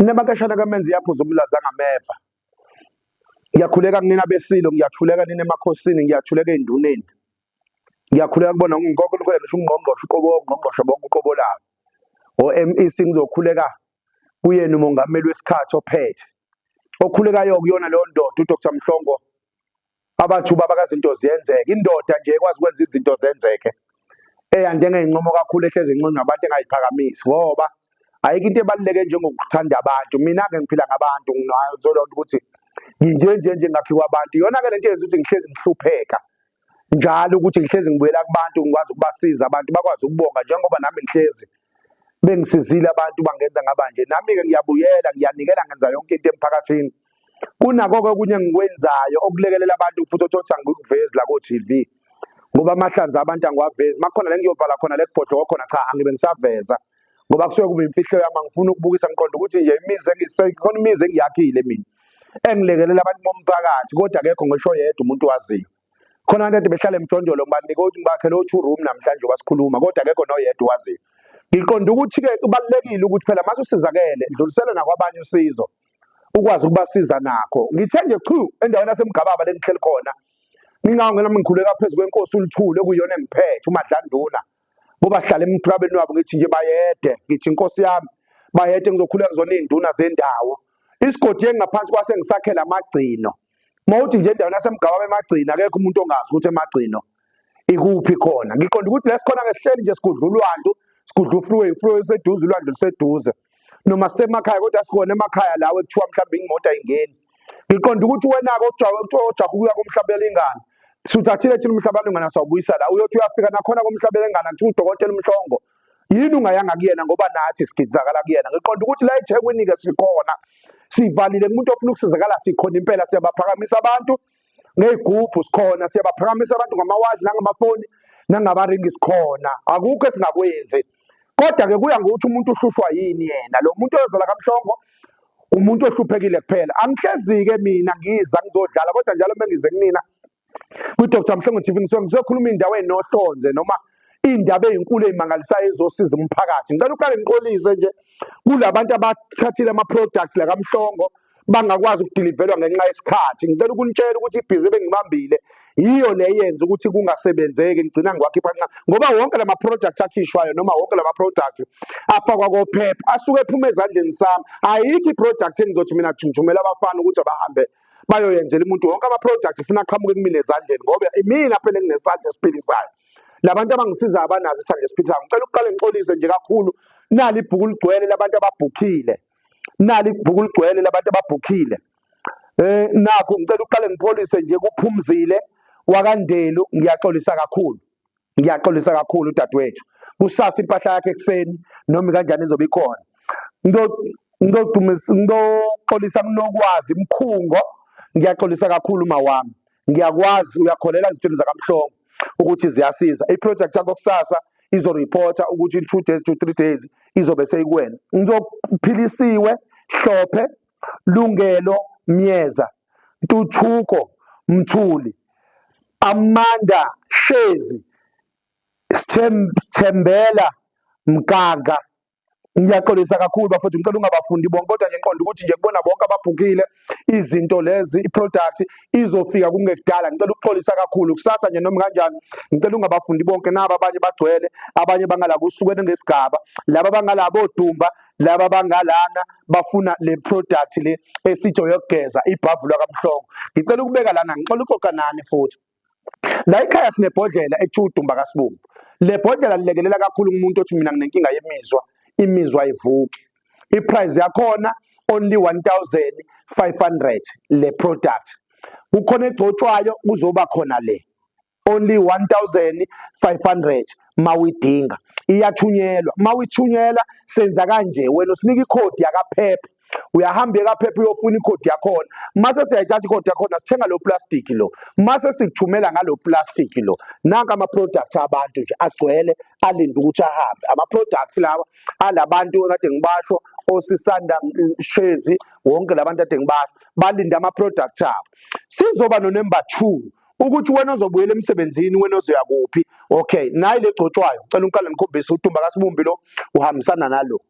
Inabakashana kamenzi yaphuza umlaza ngameva. Ngiyakhuleka kunina besilo, ngiyakhuleka nina emakhosini, ngiyakhuleka enduneni. Ngiyakhuleka kubona ngonke ukhuleka ngisho ungqongqoshe uqobo ongqongqoshe bonke uqobo lawo. OMEC ngizokhuleka kuyena umongameli wesikhathi ophethe. Okhulekayo kuyona leyo ndoda uDr Mhlongo abathu baba kazinto ziyenzeka indoda nje ekwazi ukwenza izinto zenzeke eyande ngeyincomo kakhulu ehlezi incono nabantu engayiphakamisi ngoba ayikho into ebaluleke njengokuthanda abantu mina ke ngiphila ngabantu ngizolonda ukuthi nginje nje nje ngakhiwa abantu yona ke lento yenza ukuthi ngihlezi ngihlupheka njalo ukuthi ngihlezi ngibuyela kubantu ngikwazi ukubasiza abantu bakwazi ukubonga njengoba nami ngihlezi bengisizile abantu bangenza ngabanje nami ke ngiyabuyela ngiyanikela ngenza yonke into emphakathini kunakho-ke okunye engikwenzayo okulekelela abantu futhi othi othi angikuvezi la ko-tv ngoba amahlanza abantu angiwavezi makukhona le ngiyovala khona le kubhodloko khona cha angibe ngisaveza ngoba kusuke kuba imfihlo yami angifuni ukubukisa ngiqonda ukuthi nje imizi engisekhona imizi engiyakhile mina engilekelela abantu bomphakathi kodwa akekho ngisho yedwa umuntu waziyo khona abantu behlala emjondolo ngibanika ukuthi ngibakhe lo two room namhlanje wasikhuluma kodwa akekho noyedwa waziyo ngiqonda ukuthi-ke kubalulekile ukuthi phela mase usizakele dlulisele nakwabanye usizo ukwazi ukubasiza nakho ngithe nje chu endaweni yasemgababa lengihleli khona ngingawo ngenami ngikhuleka phezu kwenkosi uluthule kuyona engiphethe umadlanduna bobahlala emthwabeni wabo ngithi nje bayede ngithi inkosi yami bayede ngizokhuleka kuzona iy'nduna zendawo isigodi engingaphansi kwase ngisakhela amagcino mawuthi nje endaweni yasemgababa emagcina akekho umuntu ongazi ukuthi emagcino ikuphi khona ngiqonda ukuthi lesikhona ngesihleli nje sigudla ulwandu sigudla ufreeway ufreeway useduze ulwandu luseduze noma sisemakhaya kodwa sikhona emakhaya lawo ekuthiwa mhlawumbe imoto ayingeni ngiqonda ukuthi wena-ke ojaha ukuya komhlabela ingane suthathile thina umhlabela ingane sawubuyisa la uyothi uyafika nakhona komhlabela ingane kuthiwa udokotela umhlongo yini ungayanga kuyena ngoba nathi sigizakala kuyena ngiqonda ukuthi la ethekwini-ke sikhona sivalile kumuntu ofuna ukusizakala sikhona impela siyabaphakamisa abantu ngey'gubhu sikhona siyabaphakamisa abantu ngamawaji nangamafoni nangabaringi sikhona akukho esingakwenzi kodwa-ke kuya ngokuthi umuntu uhlushwa yini yena lo muntu oyozala kamhlongo umuntu ohluphekile kuphela angihlezi-ke mina ngiza ngizodlala kodwa njalo uma ngize kunina kwi-dr mhlongo tv ngisuke ngizokhuluma indawo enohlonze noma iy'ndaba ey'nkulu ey'mangalisayo ezosiza umphakathi ngicela uqale ngiqolise nje kulabantu abathathile ama-products lakamhlongo like bangakwazi ukudilivelwa ngenxa yesikhathi ngicela ukunitshela ukuthi ibhizi ebengibambile yiyo le yenza ukuthi kungasebenzeki ngigcina ngiwakhipha nxa ngoba wonke lama project akhishwayo noma wonke lama product afakwa kophepha asuke ephuma ezandleni sami ayikho iproject engizothi mina thumela abafana ukuthi abahambe bayoyenzela umuntu wonke ama project funa aqhamuke kumina ezandleni ngoba imina phela enginesandla esiphilisayo labantu abangisiza abanazi isandla esiphilisayo ngicela ukuqale ngixolise nje kakhulu nali ibhuku ligcwele labantu ababhukhile nali ibhuku ligcwele labantu ababhukhile eh nakho ngicela uqale ngipholise nje kuphumzile wakandelu ngiyaxolisa kakhulu ngiyaxolisa kakhulu udadewethu kusasa impahla yakhe ekseni noma kanjani izobe ikhona ngidodumisa ngidoxolisa kunokwazi mkhungo ngiyaxolisa kakhulu mawami ngiyakwazi uyakholela ezintweni zakamhlongo ukuthi ziyasiza iproject yakho kusasa izoreporta ukuthi in two days to three days izobe seyikuwena ngizophilisiwe hlophe lungelo myeza ntuthuko mthuli amanda shezi sithembela mgaga Ngiyaxolisa kakhulu bafowethu, ngicela ungabafundi bonke, kodwa nje ngiqonda ukuthi nje kubona bonke ababhukile izinto lezi, iproduct izofika kungekudala. Ngicela ukuxolisa kakhulu kusasa nje noma kanjani, ngicela ungabafundi bonke nabo, abanye bagcwele, abanye bangala kusukela ngesigaba, laba bangala bodumba, laba bangalana bafuna le product le esithi oyokugeza ibhavulwa kabuhlungu. Ngicela ukubeka lana, ngixola uxoxa nani futhi. La ekhaya sinebhodlela ekuthiwa udumba kasibumbu. Le bhodlela lilekelela kakhulu kumuntu othi mina nginenkinga yemizwa, imizwa ayivuki. Iprice yakhona only 1500 le product. Kukhona egcotshwayo kuzoba khona le. Only 1500 mawidinga iyathunyelwa mawithunyela senza kanje wena usinika ikhodi yakaphepha uyahamba ekaphepha uyofuna ikhodi yakhona mase siyayithatha ikhodi yakhona sithenga lo plastic lo mase sikuthumela ngalo plastic lo nanka ama products abantu nje agcwele alinde ukuthi ahambe ama products lawa alabantu kade ngibasho osisanda shezi wonke labantu kade ngibasho balinde ama products abo sizoba no number 2 ukuthi wena ozobuyela emsebenzini wena ozoya kuphi okay nayi legcotshwayo cela unkala nikhombise uthumba kasibumbi lo uhambisana nalo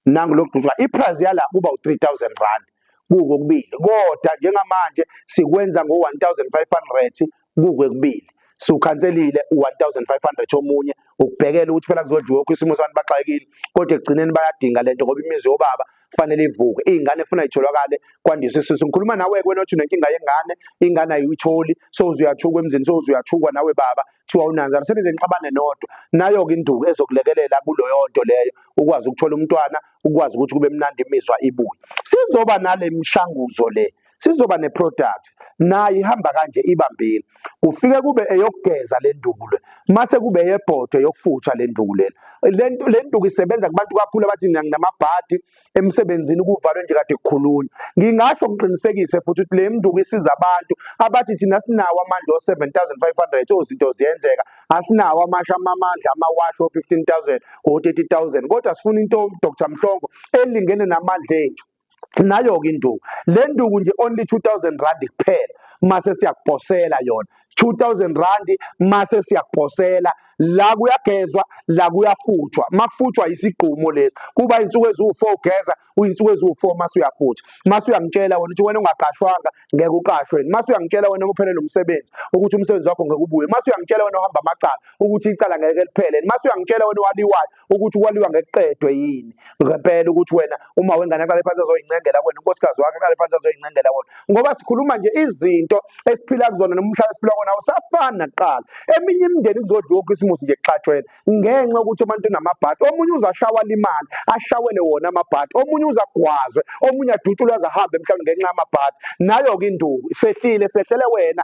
nangu lokudutshwa iprice yala kuba u3000 rand kuko kubili kodwa njengamanje sikwenza ngo1500 kuko kubili siwukhanselile u1500 omunye ukubhekela ukuthi phela kuzodliwa ukho isimo santu baxakile kodwa ekugcineni bayadinga lento ngoba imizi yobaba kufanele ivuke izingane efuna itholakale kwandisa isisu ngikhuluma nawe kwena othi unenkinga yengane ingane ayuyitholi sowuzuyathuka emzini sowuzuyathuka nawe baba kuthiwa unanzana senize nixabane nodwa nayo-ke induku ezokulekelela kuloyo nto leyo ukwazi ukuthola umntwana ukwazi ukuthi kube mnandi imizwa ibuye sizoba nale mishanguzo le sizoba neproduct nayo ihamba kanje ibambile kufike kube eyokugeza le nduku le mase kube eyebhodwe yokufutha le nduku lena le nduku isebenza kubantu kakhulu abathi nginamabhadi emsebenzini kuvalwe nje kade kukhulunywa ngingasho ngiqinisekise futhi ukuthi le mnduku isiza abantu abathi thina sinawo amandla o-7500 ozinto ziyenzeka asinawo amasha amamandla amawashi o-15000 o-30000 kodwa sifuna into dr mhlongo elingene namandla ethu nayo-ke induku le nduku nje only 2000 rand kuphela mase siyakuphosela yona 2000 rand mase siyakuphosela la kuyagezwa la kuyafuthwa makufuthwa isigqumo lesi kuba insuku eziwu4 ugeza uyinsuku eziwu4 mase uyafutha mase uyangitshela wena ukuthi wena ungaqashwanga ngeke uqashwe mase uyangitshela wena kuphele lomsebenzi ukuthi umsebenzi wakho ngeke ubuye mase uyangitshela wena uhamba amacala ukuthi icala ngeke liphele mase uyangitshela wena waliwayo ukuthi kwaliwa ngekuqedwe yini ngempela ukuthi wena uma wengane aqale phansi azoyincengela wena unkosikazi wakhe aqale phansi azoyincengela wona ngoba sikhuluma nje izinto esiphila kuzona noma umhlaba esiphila kona usafani nakuqala eminye imindeni kuzodliwa ukho isimusi nje kuxatshwela ngenxa ukuthi umuntu unamabhadi omunye uzashawa limali ashawele wona amabhadi omunye uzagwazwe omunye adutshulwe azahambe mhlawumbe ngenxa yamabhadi nayo-ke induku sehlile sehlele wena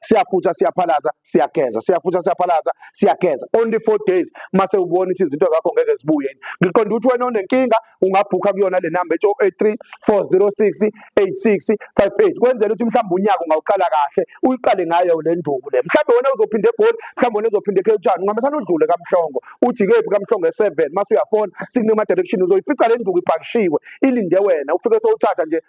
siyafutha siyaphalaza siyageza siyafutha siyaphalaza siyageza only four days mase ubona ukuthi izinto zakho ngeke zibuye ngiqonda ukuthi wena onenkinga ungabhukha kuyona le number ethi 083 406 8658 kwenzela ukuthi mhlawumbe unyaka ungawuqala kahle uyiqale ngayo le nduku le mhlawumbe wena uzophinda egoli mhlawumbe wena uzophinda ekhewutshani ungamesana udlule kamhlongo uthi kephi kamhlongo e7 mase uyafona sikunema direction uzoyifica le nduku ipakishiwe ilinde wena ufike sowuthatha nje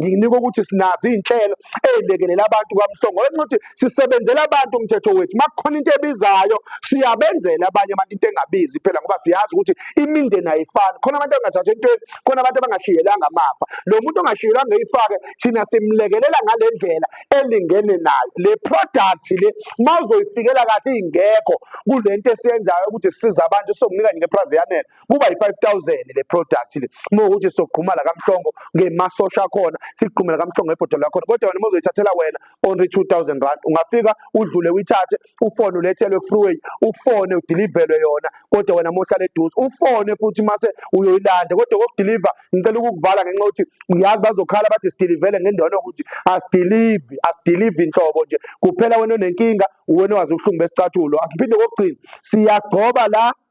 nginika ukuthi sinazo izinhlelo ezilekelela abantu kaMhlongo ngenxa ukuthi sisebenzela abantu umthetho wethu makukhona into ebizayo siyabenzela abanye abantu into engabizi phela ngoba siyazi ukuthi imindeni ayifani khona abantu abangathathi entweni khona abantu abangashiyelanga amafa lo muntu ongashiyelanga eyifake thina simlekelela ngale ndlela elingene nayo le product le mawuzoyifikela kahle ingekho kulento esiyenzayo ukuthi siza abantu sokunika nje ngeprize yanele kuba yi-5000 le product le uma ukuthi sizogquma la kamhlongo ngemasosha akhona sigqumela kamhlongo ebhodolo lakhona kodwa wena uma uzoyithathela wena only 2000 rand ungafika udlule uyithathe ufone ulethelwe freeway ufone udilivelwe yona kodwa wena mohlala eduze ufone futhi mase uyoyilanda kodwa kokudiliva ngicela ukukuvala ngenxa ukuthi uyazi bazokhala bathi sidilivele ngendawo yokuthi asidilivi asidilivi inhlobo nje kuphela wena onenkinga uwena owazi ubuhlungu besicathulo asiphinde kokugcina siyagcoba la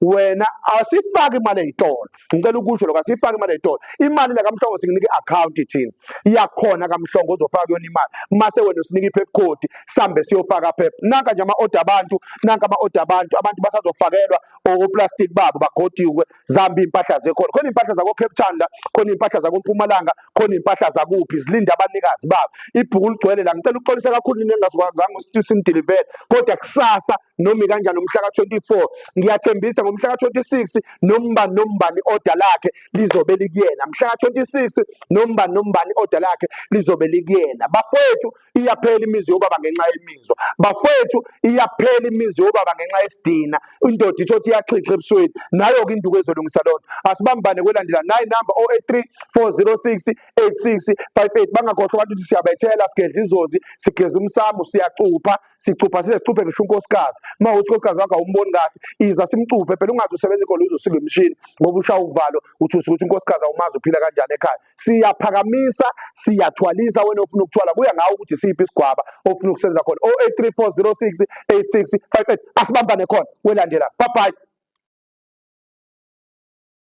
wena asifaki imali eyitolo ngicela ukusho lokho asifaki imali eyitolo imali la kamhlongo singinike i-account thina iyakhona kamhlongo uzofaka kuyona imali mase wena usinike i-pep code sambe siyofaka pep nanka nje ama-order abantu nanka ama-order abantu abantu basazofakelwa oplastic babo bagodiwe zambi impahla zekhona khona impahla zako Cape Town la khona impahla zako Mpumalanga khona impahla zakuphi zilinde abanikazi babo ibhuku ligcwele la ngicela uxolisa kakhulu nina engazikwazanga usitisi nideliver kodwa kusasa noma ikanjani umhla ka-24 ngiyathembisa ngomhla ka-26 nombani nombani oda lakhe lizobe likuyena mhla ka-26 nombani nombani oda lakhe lizobe likuyena bafowethu iyaphela imizi yobaba ngenxa yemizwa bafowethu iyaphela imizi yobaba ngenxa yesidina indoda itho ukuthi iyaxhixha ebusweni nayo-ke induku ezolungisa loo nto asibambane kwelandela nayi namba 083 406 8658 bangakhohlwa abantu ukuthi siyabethela sigedla izozi sigeza umsamo siyacupha sicupha size sicuphe ngisho unkosikazi uma uthi unkosikazi wakho awumboni kahle iza simcuphe phela ungazi usebenza inkolo uzosika imishini ngoba ushaya uvalo uthi usuke ukuthi unkosikazi awumazi uphila kanjani ekhaya siyaphakamisa siyathwalisa wena ofuna ukuthwala kuya ngawo ukuthi siphi isigwaba ofuna ukusenza khona 083406 8658 asibambane khona welandela bye bye